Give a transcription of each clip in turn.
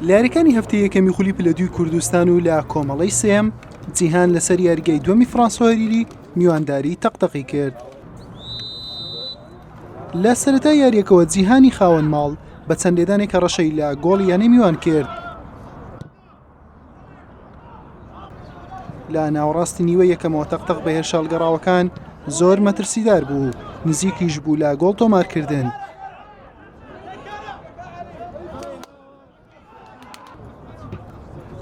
لە یاریەکانی هەفتەی یەکەمی خولی پلە دووی کوردستان و لە کۆمەڵی سێم جیهان لەسەر یاریگەی دووەمی فرانسۆریری میوانداری تەقتەقی کرد لە سەرەتا یاریەکەوە جیهانی خاوەن ماڵ بە چەند لێدانێکە ڕەشەی لە گۆڵ یانەی میوان کرد لە ناوەڕاستی نیوە یەکەمەوە تەقتەق بە هێرشالگەڕاوەکان زۆر مەترسیدار بوو نزیکیش بوو لە گۆڵ تۆمارکردن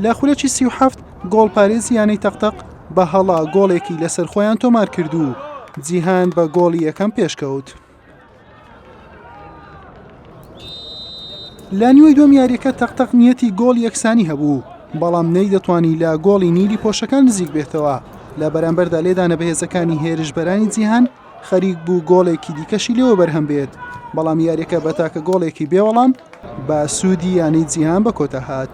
لە خولەکی سی و هەفت گۆڵ پارێزی یانەی تەقتەق بە هەڵا گۆڵێکی لەسەر خۆیان تۆمار کرد و جیهان بە گۆڵی یەکەم پێشکەوت. لە نیوەی دوم یاریەکە تەق تەق نیەتی گۆڵ یەکسانی هەبوو بەڵام نەی دەتوانی لە گۆڵی نیلی پۆشەکان نزیک بێتەوە لە بەرامبەردا لێدانە بەهێزەکانی هێرشبەرانی جیهان خەریک بوو گۆڵێکی دیکەشی لەوە بەرهەم بێت بەڵام یاریەکە بە تاکە گۆڵێکی بێوەڵام بە سوودی یانەی جیهان بە کۆتا هات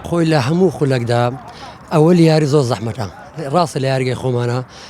خۆی لە هەموو خولەکدا ئەوە یاری زۆر زەحمەتە ڕاستە لە یاریگەی خۆمانە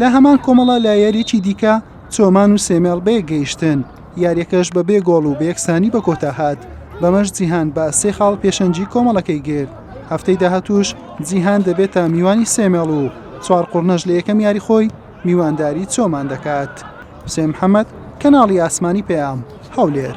لە هەمان کۆمەڵە لە یاریی دیکە چۆمان و سێمێڵ بەیەک گەیشتن یاریەکەش بە بێ گۆڵ و بەیەکسانی بە کۆتا هاات بەمەش جیهان بە سێ خاڵ پێشەنجی کۆمەڵەکەی گرت هەفتەی داهاتوش جیهان دەبێتە میوانی سێمێڵ و چوار قڕنەش لە یەکەم یاری خۆی میوانداری چۆمان دەکات حسێن محەممەد کەناڵی ئاسمانی پەیام هەولێر